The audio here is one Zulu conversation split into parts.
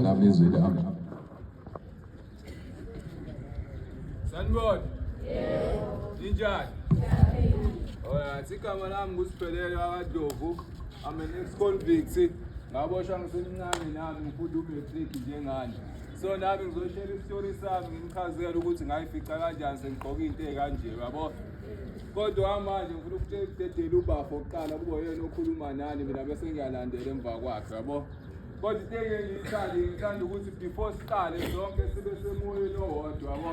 nami izwi lami Sanibona yebo ninjani Alright, igama lami nguSiphelele akaDovu. I'm an ex-convict. Ngaboshwa ngisemncane nami ngifunda umatric njengani. So nami ngizoshela isitori sami ngimchazele ukuthi ngayifica kanjani sengigqoka into ekanje, yabo. Kodwa manje ngifuna ukutshela ukudedela ubafo oqala kube yena okhuluma nani mina bese ngiyalandela emva kwakhe, yabo. Kodwa into engeke ngiyithande ngithanda ukuthi before siqale sonke sibe semoyeni owodwa yabo.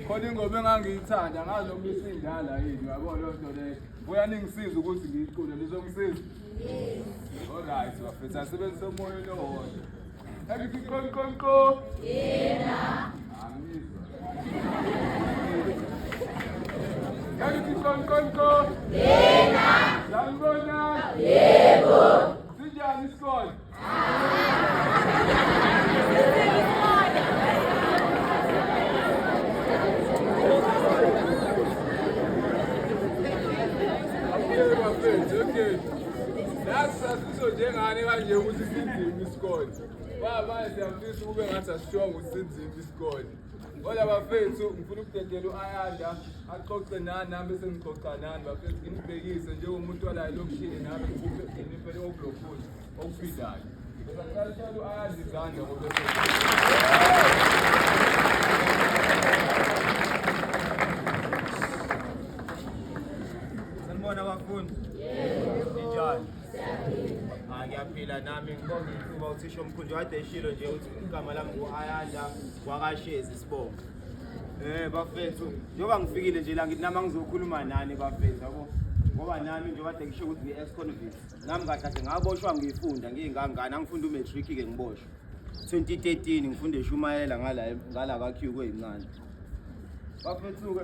Khona ingoma engangiyithanda ngazi noma isindala yini yabo leyo nto leyo. Buya ningisiza ukuthi ngiyicule lizongisiza. Alright bafethu asebenzise umoyeni owodwa. Angithi qon qon qo. Yena. Angizwa. Angithi qon qon qo. Yena. Sanibona. Yena. Sinjani isikole? Sizojengani kanje ukuthi sinzima isikole? Baba, siyafisa ukube ngathi asishongo ukuthi sinzima isikole. Hola bafethu, ngifuna ukudedela u-Ayanda axoxe nani nami bese ngixoxa nani bafethu, nginibhekise njengomuntu olayo lokishini nami ngikuphe inipele okulokhuni okufidayo. Bese ngicela uthole u-Ayanda izandla ngoba Sanibona bafundi. Yebo. Njani? ngiyaphila nami ngibonga ithuba uthisha omkhulu kade eshilo nje ukuthi igama lami ngu-ayanda wakashezi sibonga um bafethu njengoba ngifikile nje la ngithi nami angizokhuluma nani bafethu yabo ngoba nami nje kade ngisho ukuthi ngi-ex convict nami kahle kahle ngaboshwa ngiyifunda ngiyingangani angifunde umatric-ke ngiboshwa 2013 ngifunde eshumayela ngala ngala ka-q kweyimncane bafethu-ke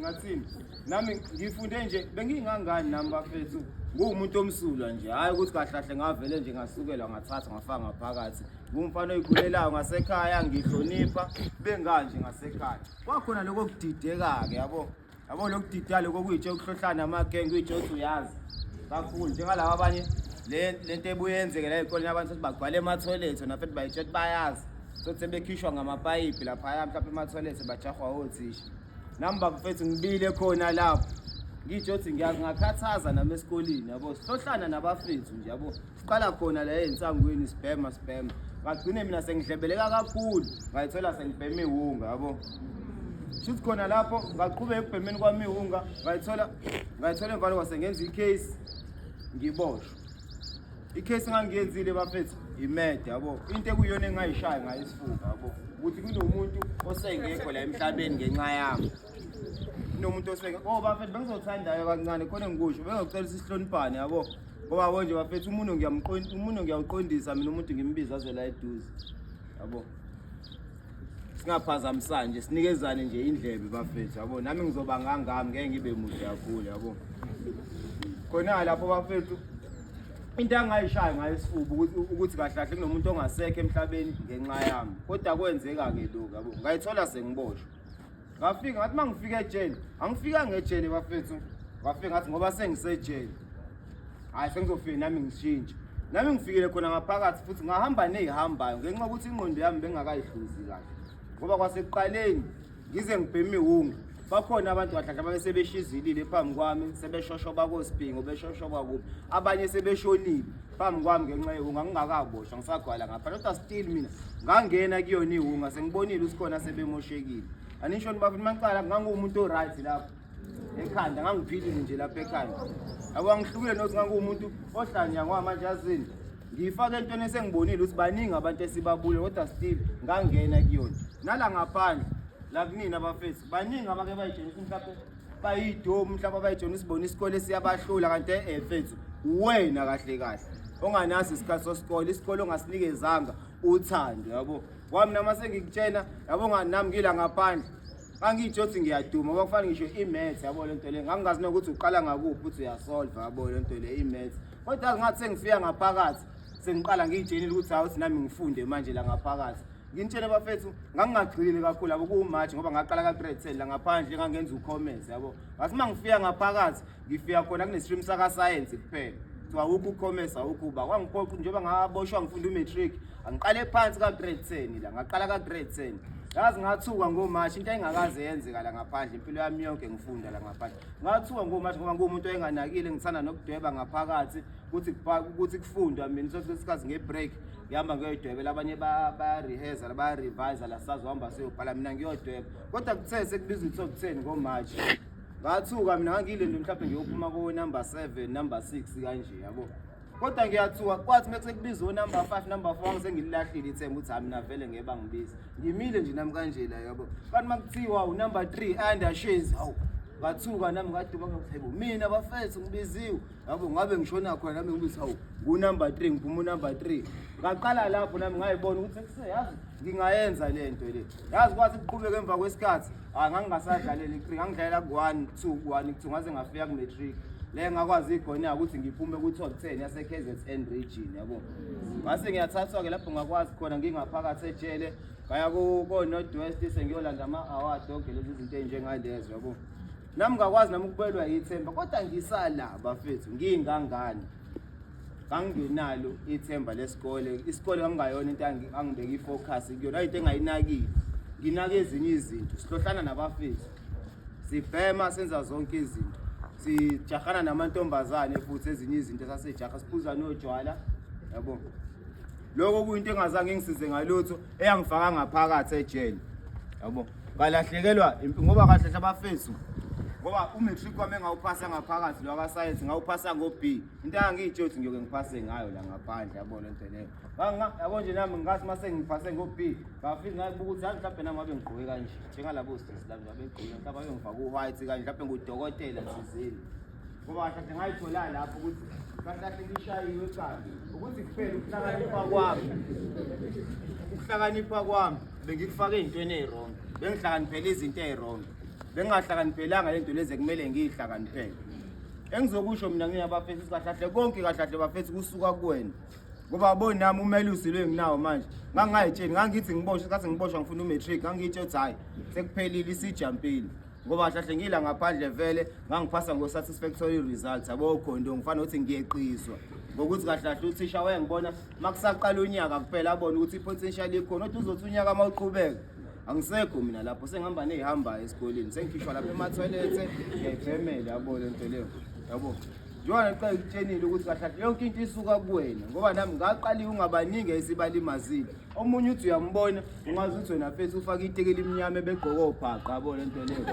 ngathini nami ngifunde nje bengingangani nami bafethu nguwumuntu omsulwa nje hhayi ukuthi kahlahle ngavele nje ngasukela ngathatha ngafaka ngaphakathi ngumfana oyikhulelayo ngasekhaya ngihlonipha benganje ngasekhaya kwakhona lokho kudideka-ke yabo yabo lokudidala kokuyitshe ukuhlohlana amagenge kuyitshe ukuthi uyazi kakhulu njengalaba abanye le nto ebuye yenzeke la ezikoleni abantu futhi bagcwale emathoyilethi na futhi bayitshe ukuthi bayazi sothi sebekhishwa ngamapayipi laphaya mhlawumbe emathoyilethi bajahwa othisha nami bafethu ngibile khona lapho ngitsho ukuthi ngiyakungakhathaza nami esikoleni yabo sihlohlana nabafethu nje yabo siqala khona la ey'nsangweni sibhema sibhema ngagcine mina sengidlebeleka kakhulu ngayithola sengibhema iwunga yabo shuthi khona lapho ngaqhubeka ekubhemeni kwami iwunga ngayithola ngayithola emvalo kwase ngenza icase ngiboshwa icase engangiyenzile bafethu imede yabo into ekuyona engayishayi ngayo isifuba yabo ukuthi kunomuntu osengekho la emhlabeni ngenxa yami kunomuntu oseke oh bafethu bengizothandayo kancane khona engikusho bengizocela sihloniphane yabo ngoba yabo nje bafethu umuntu ngiyamqondi umuntu ngiyawuqondisa mina umuntu ngimbiza aze la eduze yabo singaphazamisani nje sinikezane nje indlebe bafethu yabo nami ngizoba ngangami ngeke ngibe mude kakhulu yabo khona lapho bafethu into angayishayo ngayo isifuba ukuthi ukuthi kahle kahle kunomuntu ongasekho emhlabeni ngenxa yami kodwa kwenzeka ke lokho yabo ngayithola sengiboshwe ngafika ngathi uma ngifika ejele angifika ngejele bafethu ngafika ngathi ngoba sengisejele hhayi sengizofike nami ngishintshe nami ngifikile khona ngaphakathi futhi ngahamba neyihambayo ngenxa yokuthi ingqondo yami bengakayihluzi kahle ngoba kwasekuqaleni ngize ngibheme iwungu bakhona abantu kahlahla babesebeshizilile phambi kwami sebeshoshoba kosiphingo beshoshoba kuphi abanye sebeshonile phambi kwami ngenxa yewunga ngingakaboshwa ngisagwala ngapha kodwa still mina ngangena kuyona iwunga sengibonile usikhona sebemoshekile anisho niba futhi maqala ngangumuntu oright lapho ekhanda ngangiphilile nje lapha ekhanda yabo angihlukile nokuthi ngangumuntu ohlanya kwamanje azini ngiyifake entweni esengibonile ukuthi baningi abantu esibabule kodwa still ngangena kuyona nala ngaphandle la kunini abafethu baningi abake bayijeni ukuthi mhlawumbe bayidomu mhlawumbe abayijona isibona isikole siyabahlula kanti efethu wena kahle kahle onganaso isikhathi sosikole isikole ongasinikezanga uthando yabo wami nama sengikutshena yabo nganami ngila ngaphandle angitsho ukuthi ngiyaduma kwakufana ngisho i-maths yabo le nto le ngangingazi nokuthi uqala ngakuphi uthi uyasolva yabo le nto le i-maths kodwa ngathi sengifika ngaphakathi sengiqala ngiyitshenile ukuthi hawu ukuthi nami ngifunde manje la ngaphakathi Nginitshele bafethu ngangingagxilile kakhulu yabo kuwuMarch ngoba ngaqala ka grade 10 la ngaphandle ngangenza ucommerce yabo. Ngathi uma ngifika ngaphakathi ngifika khona kunestream saka science kuphela. Kuthiwa awukho ucommerce awukho uba kwangiphoqa njengoba ngaboshwa ngifunda umatric angiqale phansi ka grade 10 la ngaqala ka grade 10 yazi ngathuka ngomashi into engakaze yenzeka la ngaphandle impilo yami yonke ngifunda la ngaphandle ngathuka ngomashi ngoba ngumuntu oyenganakile ngithanda nokudweba ngaphakathi ukuthi ukuthi kufundwa mina sosikhathi ngebreak ngihamba ngiyoyidwebela abanye bayareheza bayarevisa la sazohamba siyobhala mina ngiyodweba kodwa kuthe sekubiza ukuthi okutheni ngomarch ngathuka mina ngangiyile nto mhlawumbe ngiyophuma konumber seven number six kanje yabo kodwa ngiyathuka kwathi uma sekubiza onumber five number four sengililahlile ithemba ukuthi hami navele ngeke bangibize ngimile nje nami kanje la yabo kanti uma kuthiwa unumber three under shezi hawu ngathuka nami ngaduba ngathi mina bafethu ngibiziwe yabo ngabe ngishona khona nami ngibithi hawu ngunumber three ngiphuma unumber three ngaqala lapho nami ngayibona ukuthi sekuseyazi ngingayenza le nto le yazi kwathi kuqhubeka emva kwesikhathi hayi ngangingasadlaleli i-three ngangidlalela ku-one two ku-one two ngaze ngafika kune-three le ngakwazi igona ukuthi ngiphume ku-top ten yase-kzn region yabo ngase ngiyathathwa-ke lapho ngakwazi khona ngingaphakathi ejele ngaya ko-north west sengiyolanda ama-award onke lezi zinto ey'njengalezo yabo Nami ngakwazi nami ukubelwa yithemba kodwa ngisala bafethu ngingangani. Kangingenalo ithemba lesikole. Isikole kangayona into angibeka ifocus kuyona into engayinakile. Nginaka ezinye izinto. Sihlohlana nabafethu. Sibhema senza zonke izinto. Sijahana namantombazane futhi ezinye izinto sasejaha siphuza nojwala. Yabo. Lokho kuyinto engazange ngisize ngalutho. eyangifaka ngaphakathi ejele yabo ngalahlekelwa impi ngoba kahle hle abafethu ngoba umatric wami engawuphasa ngaphakathi lo akasayensi ngawuphasa ngo-b into angangiyitsho ukuthi ngiyoke ngiphase ngayo la ngaphandle yabo le nto leyo yabo nje nami ngikathi uma sengiphase ngo-b ngafike ngabuka ukuthi yazi mhlawumbe nami abe ngigqoke kanje njengalabo sisi lami abegqoke mhlawumbe abe ngifake u-white kanje mhlawumbe ngudokotela thizeni ngoba kahle ngayithola lapho ukuthi kahle ngishayiwe ekhanda ukuthi kuphela ukuhlakanipha kwami ukuhlakanipha kwami bengikufake ezintweni ezirongo bengihlakaniphele izinto ezirongo bengingahlakaniphelanga le nto lezi ekumele ngiyihlakaniphele engizokusho mina ngina bafethu sikahlahle konke kahlahle bafethu kusuka kuwena ngoba aboni nami umelusi lo enginawo manje ngangingayitsheni ngangithi ngiboshwe kathi ngiboshwa ngifuna umatric ngangiyitsho ukuthi hhayi sekuphelile isijampile ngoba hlahle ngila ngaphandle vele ngangiphasa ngo-satisfactory results yabo khona into ngifana ukuthi ngiyeqiswa ngokuthi kahlahle uthisha wayengibona uma kusaqala unyaka kuphela abone ukuthi i-potential ikhona othi uzothi unyaka uma uqhubeka angisekho mina lapho sengihamba neyihambayo esikoleni sengikhishwa lapho emathoyilethe ngiyayibhemele yabo le nto leyo yabo njengoba ngiqale ngitshenile ukuthi kahlahle yonke into isuka kuwena ngoba nami ngaqaliwe ungabaningi esibalimazile omunye uthi uyambona ungazi ukuthi wena fethu ufake iteki elimnyama ebegqoka obhaqa yabo le nto leyo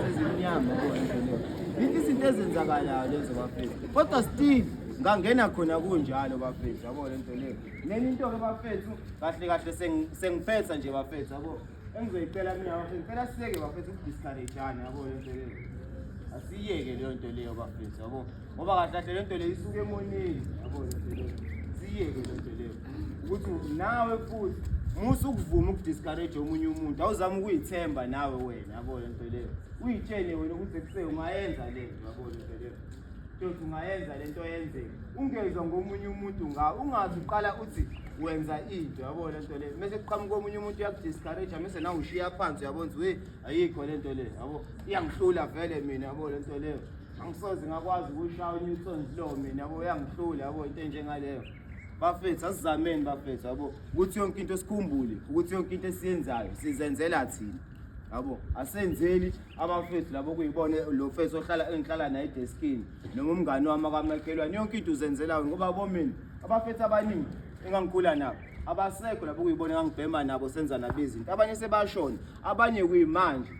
ezimnyama yabo le nto leyo yinto izinto ezenzakalayo lezo bafethu kodwa still ngangena khona kunjalo bafethu yabo le nto leyo neni into-ke bafethu kahle kahle sengiphetha nje bafethu yabo engizoyicela mina bafethu ngicela siyeke bafethu ukudiscourage-ana yabo le nto leyo asiyeke leyo nto leyo bafethu yabo ngoba kahle kahle le nto le isuke emoneni yabo le nto le siyeke le nto le ukuthi nawe futhi musa ukuvuma ukudiscourage omunye umuntu awuzama ukuyithemba nawe wena yabo le nto leyo uyitshele wena ukuthi ekuse ungayenza le nto yabo le nto leyo ntothi ungayenza le nto yenzeke ungezwa ngomunye umuntu nga ungazi uqala uthi wenza into yabo le nto leyo mese kuqhamuka omunye umuntu uyakudiscourage mese nawe ushiya phansi uyabona ukuthi we ayikho le nto leyo yabo iyangihlula vele mina yabo le nto leyo angisoze ngakwazi ukushaya uNewton Zlo mina yabo uyangihlula yabo into enjengaleyo bafethu asizameni bafethu yabo ukuthi yonke into sikhumbule ukuthi yonke into esiyenzayo sizenzela thina yabo asenzeli abafethu labo kuyibona lo fethu ohlala engihlala naye edeskini noma umngani wami akamakhelwane yonke into uzenzelayo ngoba bomina abafethu abaningi engangikhula nabo abasekho labo kuyibona engangibhema nabo senza nabezinto abanye sebashona abanye kuyimanje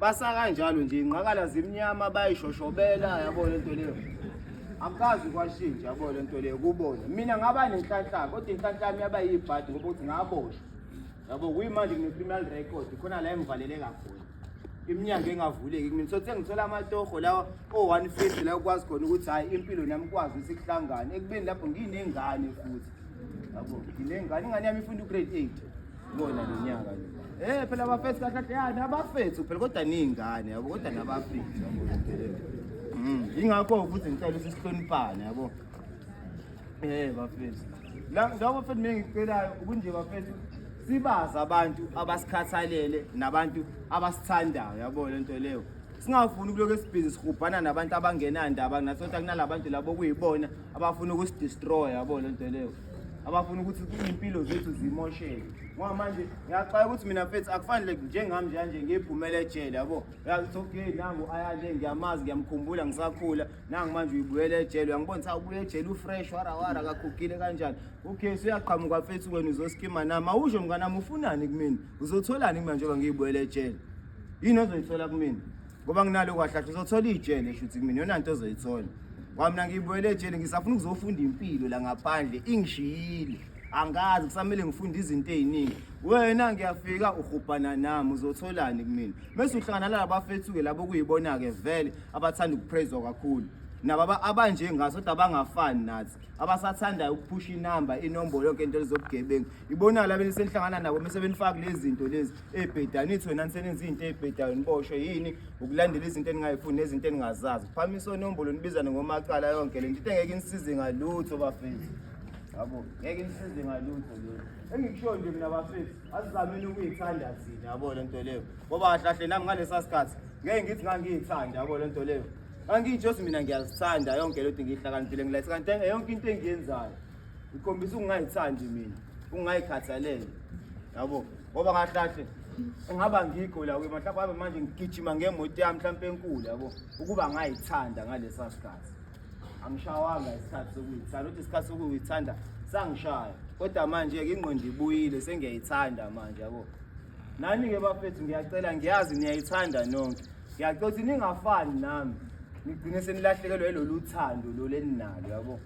basa kanjalo nje ingqakala zimnyama bayishoshobela yabo lento leyo akukazi kwashintsha yabo lento leyo kubona mina ngaba nenhlanhla kodwa inhlanhla yami yaba yibhadi ngoba ukuthi ngaboshwa yabo kuyimanje ngine-criminal record khona la engivalele kakhulu iminyango engavuleki kumina so sengithola amatoho lawa o-one fifty la ukwazi khona ukuthi hhayi impilo nami ikwazi ukuthi kuhlangane ekubeni lapho nginengane futhi yabo nginengane ingane yami ifunda ugrade eight Bona lonyaka nje. Eh phela abafethu kahle kahle yani abafethu phela kodwa ningane yabo kodwa nabafethu yabo. Mm. Ingakho ukuthi ngicela ukuthi sihloniphane yabo. Eh bafethu. La labo bafethu mina ngicelayo ukunje bafethu sibazi abantu abasikhathalele nabantu abasithandayo yabo lento leyo. Singafuni ukuloke sibhizi sihubhana nabantu abangenandaba nathi kodwa kunalabantu labo kuyibona abafuna ukusidestroy yabo lento leyo. abafuna ukuthi izimpilo zethu zimosheke ngoba manje ngiyaxwaya ukuthi mina mfethu akufanele njengami njanje ngiphumele ejele yabo yakuthi okay nangu ayale ngiyamazi ngiyamkhumbula ngisakhula nangu manje uyibuyela ejele uyangibona sa ubuye ejele ufresh wara wara kakhukile kanjani okay suyaqhamuka mfethu wena uzoskima nami awusho mnganami ufunani kumina uzotholani kumina njengoba ngiyibuyela ejele yini ozoyithola kumina ngoba nginalo kwahlahla uzothola ijele shuthi kumina yona nto ozoyithola kwamina ngibuyele ejele ngisafuna ukuzofunda impilo la ngaphandle ingishiyile angazi kusamele ngifunde izinto eziningi wena ngiyafika uhubhana nami uzotholani kumina mase uhlangana nalabafethu-ke labo kuyibona-ke vele abathanda ukupraiswa kakhulu nababa abanje ngaso kodwa abangafani nathi abasathandayo ukuphusha inamba inombolo yonke into elizobugebengu ibona la benisenhlangana nabo mese benifaka lezi zinto lezi ebhedani ithi wena nisenenza izinto ebhedayo niboshwe yini ukulandela izinto eningayifuni nezinto eningazazi phamisa onombolo nibizane ngomacala yonke le nto into engeke inisize ngalutho bafethu yabo ngeke inisize ngalutho le engikushoyo nje mina bafethu asizameni ukuyithanda thina yabo le nto leyo ngoba kahlahle nami ngalesa sikhathi ngeke ngithi ngangiyithanda yabo le nto leyo angiyitshosi mina ngiyazithanda yonke le nto ngiyihlakaniphile ngilayise kanti yonke into engiyenzayo ikhombisa ukungayithandi mina ukungayikhathalele yabo ngoba kahlahle engaba ngikho la kuye mhlawumbe abe manje ngigijima ngemoto yami mhlawumbe enkulu yabo ukuba ngayithanda ngalesa sikhathi angishawanga isikhathi sokuyithanda uthi isikhathi sokuyithanda sangishaya kodwa manje-ke ingqondo ibuyile sengiyayithanda manje yabo nani-ke bafethu ngiyacela ngiyazi niyayithanda nonke Ngiyacothi ningafani nami. Nigcine senilahlekelwa yilolu thando lolu eninalo yabo.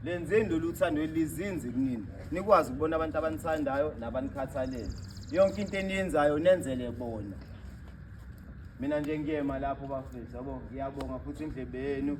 Lenzeni lolu thando elizinzi kunini. Nikwazi ukubona abantu abanithandayo nabanikhathalele. Yonke into eniyenzayo nenzele bona. Mina nje ngiyema lapho bafethu yabo. Ngiyabonga futhi indlebe yenu.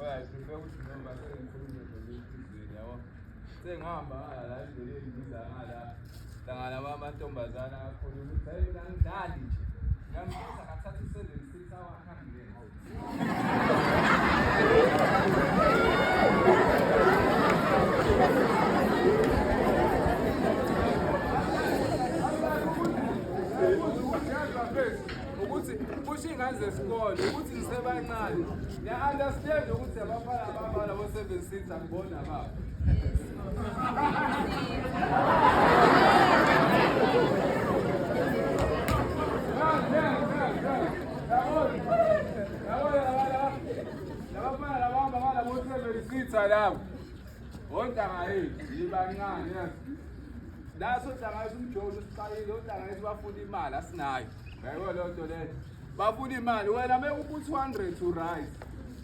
Oya prefer ukuthi noma sengikhulume nolwesizweni yabo. Sengihamba ngala la endleleni ngiza ngala. Hlangana amantombazana akhona ukuthi hayi mina ngidlali nje. Ngambuza kathatha i-seven six hour ahambe. Ukuthi kusho ingane zesikole ukuthi nisebancane Ngiya understand ukuthi abafana ababala bo 7 seats angibona baba. Salam. Ontanga yethu yibancane yazi. Naso ntanga yethu umjolo usiqalile, ontanga yethu bafuna imali asinayo. Yayibona loo nto leyo. bafuna imali wena uma uphu 200 to right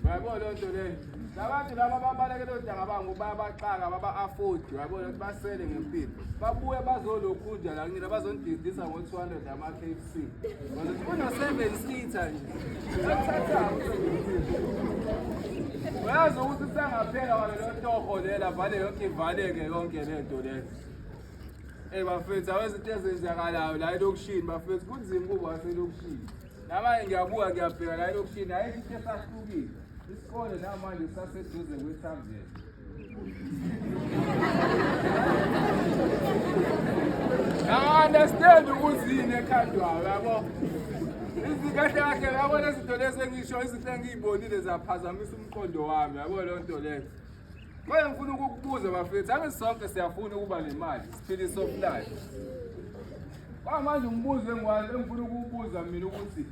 yabo leyo nto leyo labantu laba babaleke leyo ntanga bangu bayabaxaka baba-afford yabo leyo basele ngempilo babuye bazolokhunja la kunina bazonididisa ngo-200 ama-k f c uno-seven seater nje ekuthathayo uyazi ukuthi usangaphela wale leyo toho lela vale yonke ivaleke yonke le nto leyo Hey bafethu awezinto ezenzakalayo la elokishini bafethu kunzima kubo waselokishini. Namanje ngiyabuka ngiyabheka la elokishini hayi into esahlukile. Isikole namanje saseduze kwethamzela. I understand ukuthi yini ekhandwayo yabo. Izikahle kahle yabona izinto lezi engisho izinto engiyibonile zaphazamisa umqondo wami yabo leyo nto leyo. Manje ngifuna ukukubuza bafethu, ake sonke siyafuna ukuba nemali, siphile soft life. Kwamanje umbuzo engwazi engifuna ukuwubuza mina ukuthi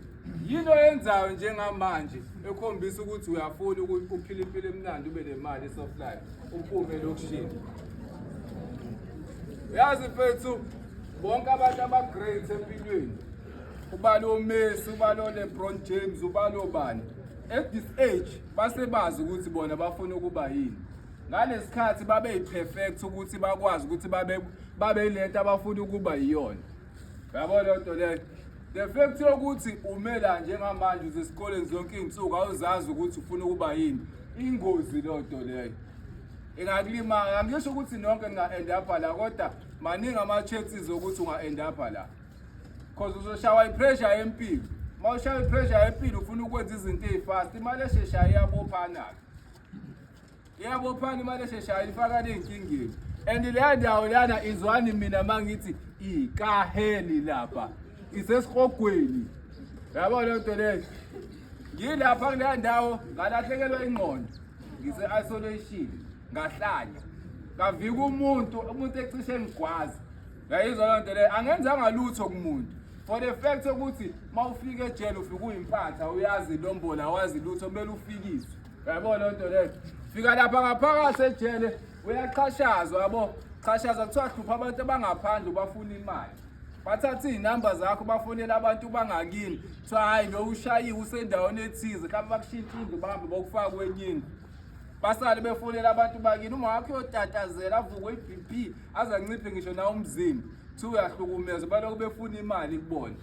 yini oyenzayo njengamanje ekhombisa ukuthi uyafuna ukuphila impilo emnandi ube nemali esoft life uphume lokushini yazi mfethu bonke abantu ama-great empilweni ubalo messi ubalo lebron james ubalo bani at this age basebazi ukuthi bona bafuna ukuba yini ngalesikhathi babe yiperfect ukuthi bakwazi ukuthi babe babe lento abafuna ukuba yiyona yabo lento leyo the fact yokuthi umela njengamanje usesikoleni zonke izinsuku awuzazi ukuthi ufuna ukuba yini ingozi lento leyo ingakulimala angisho ukuthi nonke ninga-end up la kodwa maningi ama-chances okuthi unga-end up la Cause uzoshawa ipressure yempilo. Mawushawa ipressure yempilo ufuna ukwenza izinto ezifast. Imali esheshayo iyabophana. Iyabophana imali esheshayo ifaka nezinkingeni. And leya ndawo lana izwani mina mangithi ikaheli lapha. Isesihogweni. Yabo le nto leyo. Ngilapha kuleya ndawo ngalahlekelwa ingqondo. Ngise isolation ngahlanya. Kavika umuntu umuntu ecishe ngigwaza. yayizwa loo nto leyo angenzanga lutho kumuntu for the fact ukuthi uma ufika ejele ufike uyimpatha uyazi lombola wazi lutho kumele ufikiswe yabo loo nto leyo fika lapha ngaphakathi ejele uyaqhashazwa yabo qhashazwa kuthiwa hlupha abantu abangaphandle ubafuna imali bathatha iy'namba zakho bafonela abantu bangakini kuthiwa hhayi lo ushayiwe usendaweni ethize mhlawumbe bakushintsha indlu bahambe bokufaka kwenye indlu basale befonela abantu bakini uma wakho uyotatazela avuke i-b p azanciphe ngisho na umzimba kuthiwa uyahlukumeza balokhu befuna imali kubona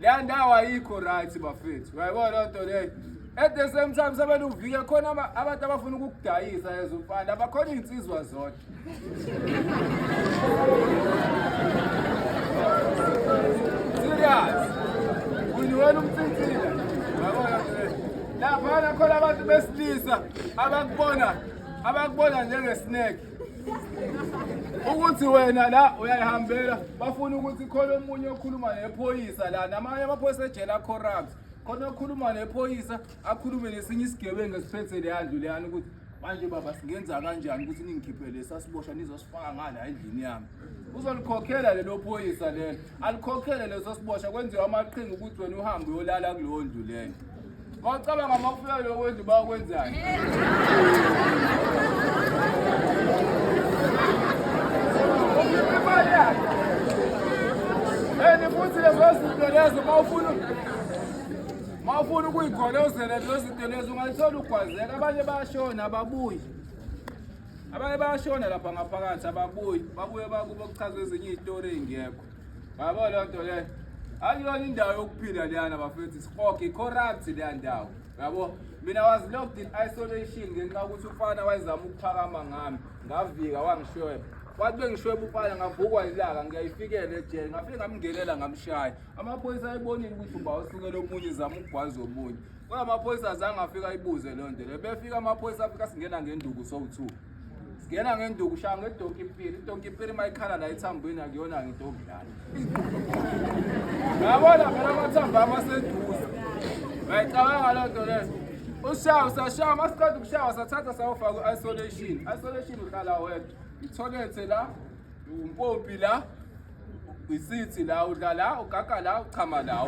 leya ndawo ayikho right bafethu uyayibona loo nto leyo at the same time sebele uvike khona abantu abafuna ukukudayisa ezumfana abakhona iy'nsizwa zodwa serious uniwena umthinthile uyabona nto leyo laphana khona abantu besilisa abakubona abakubona njengesineke ukuthi wena la uyayihambela bafuna ukuthi khona omunye okhuluma nephoyisa la namanye amaphoyisa ejele acorrupt khona okhuluma nephoyisa akhulume nesinye isigebengu esiphethe leyandlu leyani ukuthi manje baba singenza kanjani ukuthi ningikhiphele sasibosha nizosifaka ngala endlini yami uzolikhokhela lelo phoyisa lelo alikhokhele leso sibosha kwenziwa amaqhinga ukuthi wena uhambe uyolala kuleyo ndlu leyo Wacabanga uma kufika lokwenza uba kwenzani? And futhi lezo zinto lezo uma ufuna uma ufuna ukuyigolozela lezo zinto lezo ungayithola ugwazela abanye bayashona ababuyi abanye bayashona lapha ngaphakathi ababuyi babuye bakubo kuchaza ezinye iy'tori ey'ngekho Yabo loo nto leyo akuyona indawo yokuphila leyana bafethu sihoge i-corrupt leya ndawo yabo mina was locked in isolation ngenxa yokuthi ufana wayezama ukuphakama ngami ngavika wangishweba wathi bengishweba ufana ngavukwa ilaka ngiyayifikela ejele ngafike ngamngenela ngamshaya amaphoyisa ayibonile ukuthi uba usukele omunye zama ukugwaza omunye kodwa amaphoyisa azange afika ayibuze loo nto le befika amaphoyisa afika singena ngenduku sowu-two Ngena ngenduku shaya ngedonki pili. Idonki pili mayikhala la ethambweni akuyona ngidonki lana. Yabona phela amathambo ami aseduze. Ngiyayicabanga loo nto leyo. Ushaya usashaya masiqeda ukushaya sathatha sayofaka ku-isolation. Isolation uhlala wedwa. Itholethe la, umpompi la, isithi la udla la ugaga la uchama la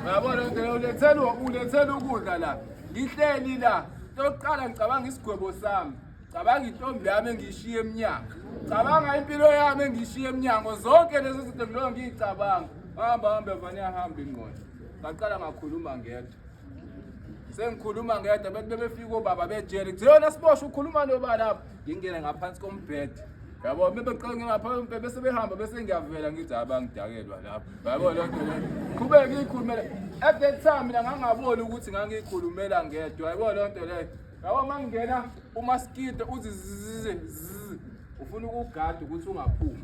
uyabona ngeke ulethelwa ulethela ukudla la ngihleli la tokuqala ngicabanga isigwebo sami cabanga intombi yami engishiye emnyango cabanga impilo yami engishiye emnyango zonke lezo zinto ngiloko ngiyicabanga hamba hambe vane ahambe ingqondo ngaqala ngakhuluma ngedwa sengikhuluma ngedwa bethi bebefika obaba bejele kuthiwa yona siboshwe ukhuluma nobani apho ngingene ngaphansi kombhede yabo bebeqonge ngaphambi bese behamba bese ngiyavela ngithi abangidakelwa lapho yabo loo nto leyo qhubeke ngiyikhulumele at that time mina ngangaboni ukuthi ngangiyikhulumela ngedwa yabo loo nto leyo yabo uma ngingena umaskito uthi zizizizi ufuna ukugada ukuthi ungaphumi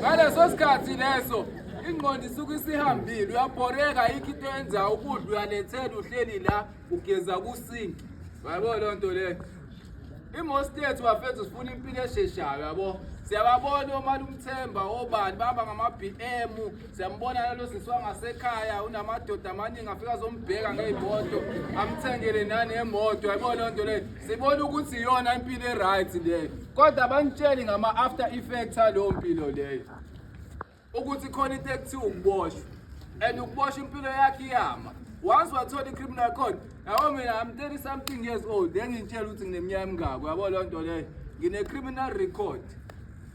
ngaleso sikhathi leso ingqondo isuke isihambile uyabhoreka yikho into enza ukudla uyalethela uhleli la ugeza kusinki yabo loo nto leyo imostate wafethu sifuna impilo esheshayo yabo siyababona omali umthemba obani baba ngama-b m siyambona lalo sisi wangasekhaya unamadoda amaningi afika azombheka ngey'moto amthengele nanemoto yayibona leyo nto leyo sibona ukuthi iyona impilo e-right leyo kodwa abanitsheli ngama-after effect aleyo mpilo leyo ukuthi khona into ekuthiwa ukuboshwa and ukuboshwa impilo yakhe iyama once wathola i-criminal code yabo mina am 30 something years old engintshela ukuthi ngineminyaka emingako yabo leyo nto leyo ngine-criminal record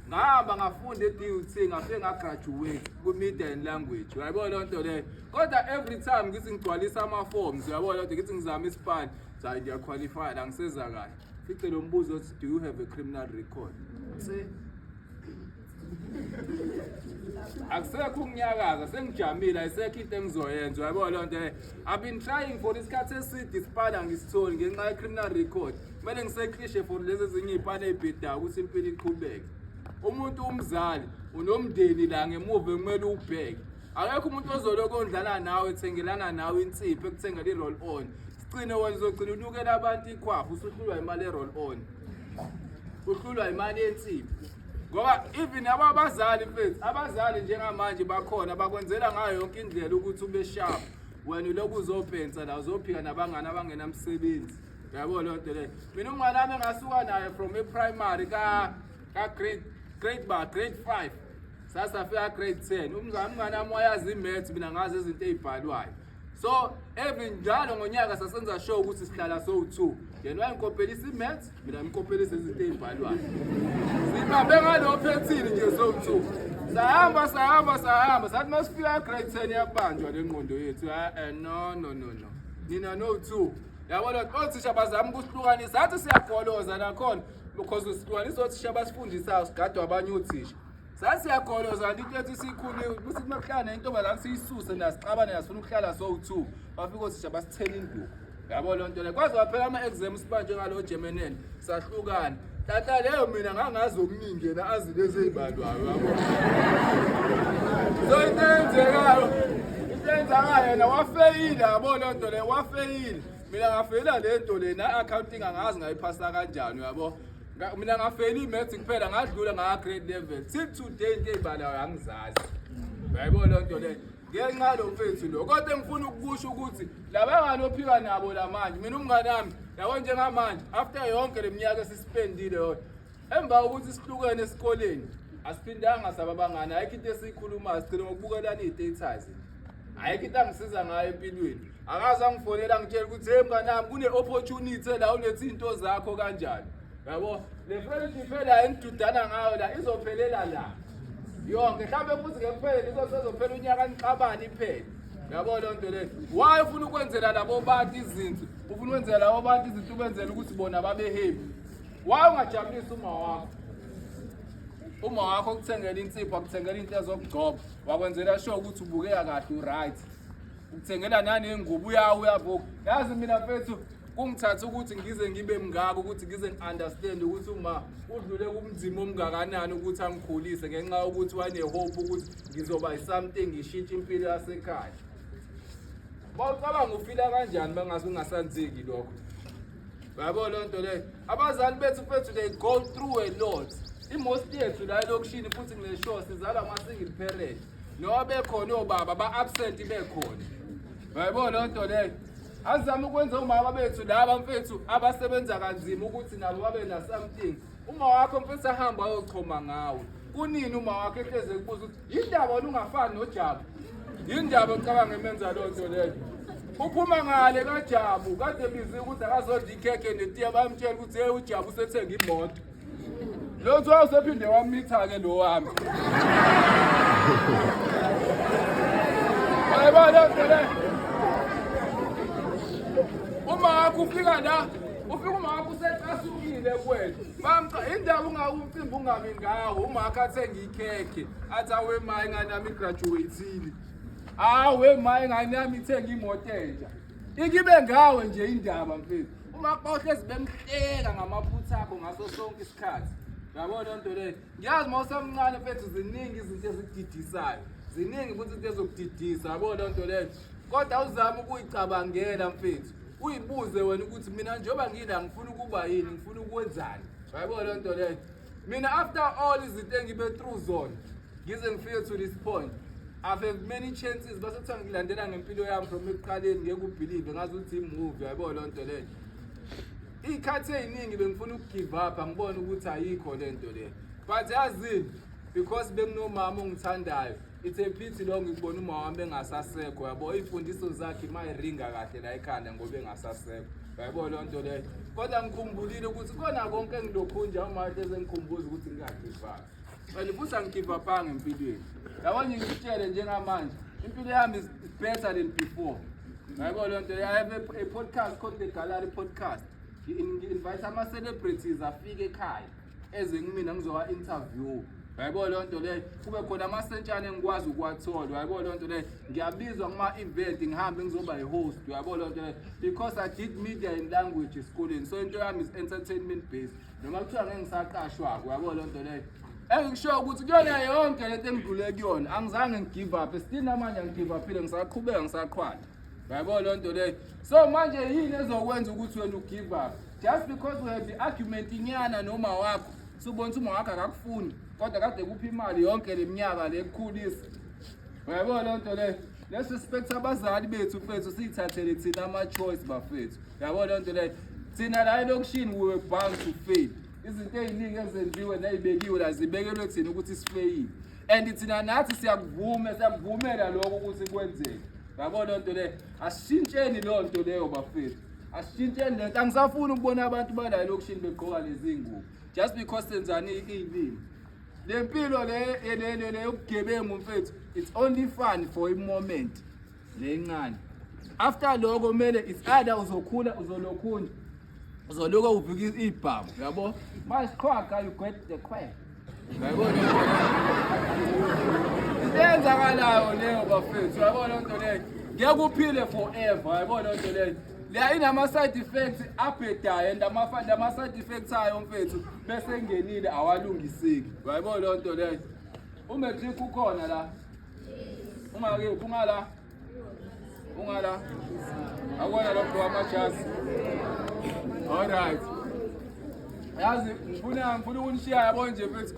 ngahamba ngafunda e-DUT ngafike ngagraduate kwi-media and language uyayibona leyo nto leyo kodwa every time ngithi ngigcwalisa ama-forms uyabona leyo nto ngithi ngizama isipani zayi ndiyaqualifya la ngiseza kahle fice lo mbuzo othi do you have a criminal record akusekho ukunyakaza sengijamile ayisekho into engizoyenza uyayibona leyo nto leyo i've been trying for isikhathi eside isipani angisitholi ngenxa ye-criminal record kumele ngiseklishe for lezi ezinye iy'pane ey'bhedayo ukuthi impilo iqhubeke umuntu umzali unomndeni la ngemuva kumele ubheke akekho umuntu ozoloko ondlala nawe ethengelana nawe insipho ekuthengela i-roll on sigcine wena uzogcina unukela abantu ikhwapha usuhlulwa imali e-roll on uhlulwa imali yensipho ngoba even abo abazali mfethu abazali njengamanje bakhona bakwenzela ngayo yonke indlela ukuthi ube sharp wena uloku uzopensa la uzophika nabangani abangenamsebenzi yabo loo nto leyo mina umnganami engasuka naye from eprimary ka-grade grade ba grade five sasafika grade ten umnganami wayazi imaths mina ngazi izinto ey'bhalwayo so every njalo ngonyaka sasenza show ukuthi sihlala sowu-two yena wayengikopelisa imaths mina ngikopelisa izinto ey'bhalwayo sibambe ngalo phethini nje sowu-two sahamba sahamba sahamba sathi uma sifika grade ten yabanjwa le ngqondo yethu e-e no no no no nina no-two Yabona othisha bazama ukusihlukanisa athi siyagoloza nakhona because usihlukanisa othisha abasifundisayo sigadwa abanye othisha sasiyagoloza kanti into ethi sikhule ukuthi kumakuhlala nentombazane siyisuse nasixabane nasifuna ukuhlala sowu-two bafike othisha basithela induku yabo loo nto le kwaze waphela ama-exams sibanjwe ngalo jemenel sahlukana Tata leyo mina ngangazi omningi yena azi lezi ey'balwayo yabo. So into eyenzekayo into eyenzakayo yena wafeyile yabo loo nto leyo wafeyile mina ngafeyila le nto le na-accounting angazi ngayiphasa kanjani yabo Nga- mina ngafeyila i-maths kuphela ngadlula ngaka-grade level till today into ey'balayo angizazi yayibona loo nto leyo ngenxa yalo mfethu lo kodwa engifuna ukukusho ukuthi labangani ophika nabo lamanje mina umngane wami yabo njengamanje after yonke le minyaka esisipendile yona emva kokuthi sihlukene esikoleni asiphindanga saba bangani ayikho into esiyikhulumayo sigcine ngokubukelana iy'datays ayikho into angisiza ngayo empilweni akaze angifonela ngitshela ukuthi hey mnganami kune-opportunity la unethi iy'nto zakho kanjani yabo le friendship phela enidudana ngayo la izophelela la yonke mhlawumbe futhi ngekuphele lizosezophela unyaka nixabane iphele yabo loo nto leyo waye ufuna ukwenzela labo bantu izinto ufuna ukwenzela labo bantu izinto ubenzela ukuthi bona babehebi waye ungajabulisa uma wakho uma wakho ukuthengela insipho akuthengela into ezokugcoba wakwenzela sho ukuthi ubukeka kahle uright ukuthengela naney'ngubo uyawu uyabuka yazi mina mfethu kungithatha ukuthi ngize ngibe mngaka ukuthi ngize ngi-understand ukuthi uma udlule kumzima omngakanani ukuthi angikhulise ngenxa yokuthi wanehope ukuthi ngizoba yi-something ngishintshe impilo yasekhaya bawucabanga ufila kanjani bangase ungasanzeki lokho yabo loo nto leyo abazali bethu fethu they go through a lot imosti yethu la elokishini futhi ngile show sizala ama-single parent noba bekhona obaba ba-absent bekhona yayibona loo nto leyo Azizame ukwenza umama bethu laba mfethu abasebenza kanzima ukuthi nabo babe na something. Uma wakho mfethu ahamba ayochoma ngawe. Kunini uma wakho ehleze kubuza ukuthi yindaba olungafani noJabu. Yindaba ocabanga emenza lo nto leyo. Uphuma ngale kaJabu kade bizi ukuthi akazodla ikhekhe netiya bamtshela ukuthi hey uJabu usethenga imoto. Lo twa usephinde wamitha ke lo wami. Ayibona ngene. Uma wakho ufika la, ufika uma wakho usecasukile kwethu. Bamqa indaba ungawumcimbi ungabi ngawo, uma wakho athenga ikhekhe, athi awe mayi ngani nami graduateile. Awe mayi ngani nami ithenga imoto entsha. Ikibe ngawe nje indaba mfethu. umakba uhlezi bemhleka ngamaphutha akho ngaso sonke isikhathi yabo loo nto leyo ngiyazi uma usamncane fethu ziningi izinto ezididisayo ziningi futhi into ezokudidisa yabo loo nto leyo kodwa uzame ukuyicabangela mfethu uyibuze wena ukuthi mina njengoba ngila ngifuna ukuba yini ngifuna ukwenzani yayibona loo nto leyo mina after all izinto engibe through zona ngize ngifike to this point I've had many chances base kuthiwa ngilandela ngempilo yami from ekuqaleni ngeke ubelieve ngazi ukuthi imovie yabo loo nto leyo iy'khathi ey'ningi bengifuna ukugive up angibone ukuthi ayikho le nto le but yazini because benginomama ongithandayo It's a pity lo ngikubona uma wami engasasekho yabo ifundiso zakhe mayiringa kahle la ekhanda ngoba engasasekho yabo lo nto le kodwa ngikhumbulile ukuthi kona konke engilokhu nje uma hleze ngikhumbuza ukuthi ngiyagivana and futhi angigivapanga empilweni yabo nje ngitshele njengamanje impilo yami is better than before yabo lo nto i have a, a podcast called the gallery podcast ngi-invite ama-celebrities afike ekhaya eze kumina ngizowa interview yayibona leyo nto leyo kube khona amasentshane engikwazi ukuwathola yayibona leyo nto leyo ngiyabizwa kuma-event ngihambe ngizoba yi-host yayibona leyo nto leyo because i did media and language esikoleni so into yami is entertainment based noma kuthiwa ngeke ngisaqashwako yayibona leyo nto leyo engikushoyo ukuthi kuyona yonke lento engidlule kuyona angizange ngigive up still namanje angigive uphile ngisaqhubeka ngisaqhwala Yabo loo nto leyo. So manje yini ezokwenza ukuthi wena ugive up? Just because we have argument inyana noma wakho. Subona ukuthi uma wakho akakufuni kodwa kade kuphi imali yonke leminyaka le kukhulisa. Yabo loo nto leyo. Let's respect abazali bethu mfethu siyithathele thina ama choice bafethu. Yabo loo nto leyo. Thina la elokishini we were bound to fail. Izinto eziningi ezenziwe nezibekiwe la zibekelwe thina ukuthi sifeyile. and thina nathi siyakuvuma siyakuvumela lokho ukuthi kwenzeke yabo loo nto leyo asishintsheni loo nto leyo bafethu asishintsheni le nto angisafuni ukubona abantu bala elokishini begqoka lezi ngubo just because senzani iy'limi le mpilo le yokugebengu mfethu it's only fun for imoment le ncane after loko kumele it's either uzokhula uzolokhunja uzoluka ubhika ibhamu yabo masiqhwaga you get the quack yayibona into eyenzakalayo leyo bafethu yabona loo nto leyo ngeke uphile forever yayibona loo nto leyo leya inama-side effects abhedayo and lama-side effects ayo mfethu bese ngenile awalungiseki yayibona loo nto leyo umatric ukhona la ungakephi ungala Ungala. Akwana lo mntu wamajazi. All right. Yazi ngifuna ngifuna ukunishiya yabo nje mfethu.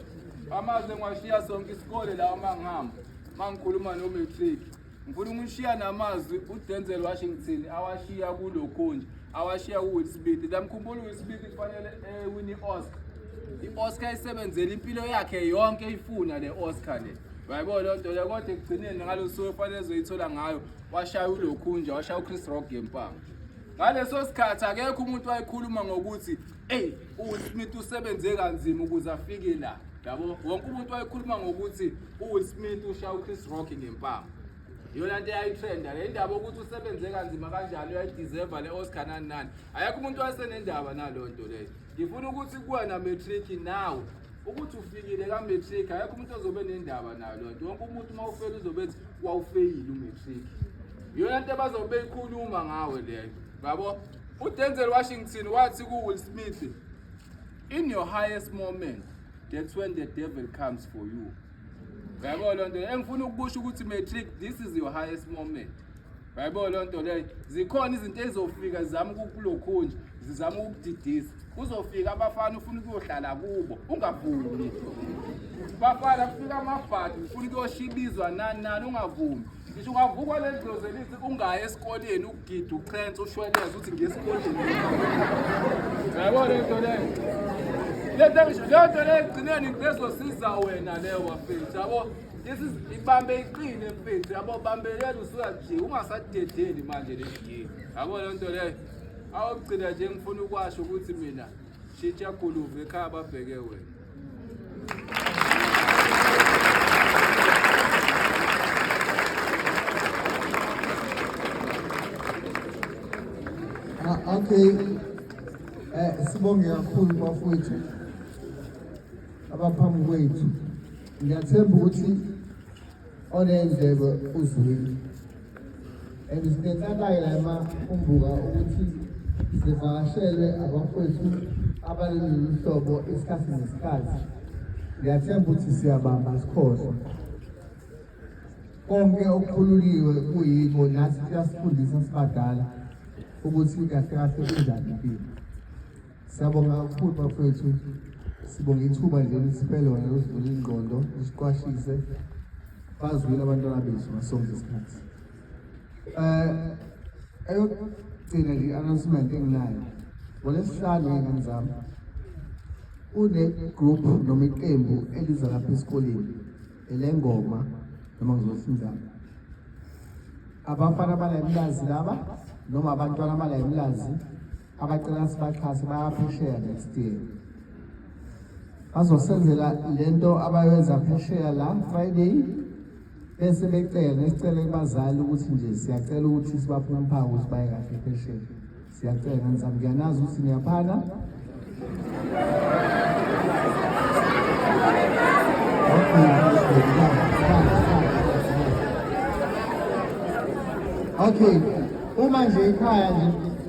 Amazwe ngiwashiya sonke isikole la uma ngihamba. Uma ngikhuluma no matric. Ngifuna ukunishiya namazwi uDenzel Washington awashiya kulokho nje. Awashiya kuWill Smith. Ndamkhumbula uWill Smith kufanele ewini eh, Oscar. I-Oscar isebenzele impilo yakhe yonke ifuna le Oscar le. Bayibona loo nto leyo kodwa ekugcineni ngalo suku efanele ezoyithola ngayo washaya ulokhunja washaya uchris rock ngempanga ngaleso sikhathi akekho umuntu wayekhuluma ngokuthi eyi uwill smith usebenze kanzima ukuze afike la yabo wonke umuntu wayekhuluma ngokuthi uwill smith ushaya uchris rock ngempanga iyona nto eyayitrenda le ndaba ukuthi usebenze kanzima kanjalo uyayideserva le oscar nani nani ayekho umuntu wayesenendaba naloo nto leyo ngifuna ukuthi kuwena matric nawe ukuthi ufikile ka-matric ayekho umuntu ozobe nendaba nayo loo nto wonke umuntu uma ufeli uzobe ethi wawufeyile umatric yiyona nto abazobe beyikhuluma ngawe leyo yabo udenzel washington wathi ku-will smith in your highest moment that's when the devil comes for you yabo loo nto engifuna ukukusho ukuthi matric this is your highest moment Hayibo loo nto leyo zikhona izinto ezizofika zizama ukukulokhunje zizama ukukudidisa kuzofika abafana ufuna ukuyohlala kubo ungavumi bafana kufika amabhadi ufuna ukuyoshibizwa nani nani ungavumi ngisho ungavukwa leli dlozi elithi ungayi esikoleni ukugida uchense ushweleze ukuthi ngiye esikoleni yabo le nto leyo le nto leyo ekugcineni ngizozosiza wena leyo wafethu yabo This is ibambe iqine mfethu yabo bambelela usuka nje ungasadedeli manje le game. Yabo le nto leyo. Awugcina nje ngifuna ukwasho ukuthi mina shitsha guluve ekhaya babheke wena. Ah, okay. Eh sibonge kakhulu bafowethu abaphambi kwethu. ngiyathemba ukuthi oney'ndlebe uzwile and sinenhlakayo la emakumbuka ukuthi sivakashelwe abafowethu abaleli luhlobo isikhathi nesikhathi ngiyathemba ukuthi siyabamba sikhohlwa konke okukhululiwe kuyiko nathi kuyasifundisa sibadala ukuthi kahle kahle kunjani impilo Siyabonga kakhulu bafethu. Sibonga ithuba nje lisiphe lona losivula ingqondo, lisiqwashise. Bazwile abantwana bethu ngasonke isikhathi. Eh eyokugcina nje announcement enginayo. NgoLesihlanu ngengane zami kune-group noma iqembu eliza lapha esikoleni elengoma noma ngizothi njalo abafana bala emlazi laba noma abantwana bala emlazi abacela sibaxhase bayaphesheya next year bazosenzela le nto abayenza phesheya la friday bese becela nesicele kubazali ukuthi nje siyacela ukuthi sibaphe umphawu ukuthi baye kahle phesheya siyacela ngisam ngiyanazi ukuthi niyaphana Okay, uma nje ikhaya nje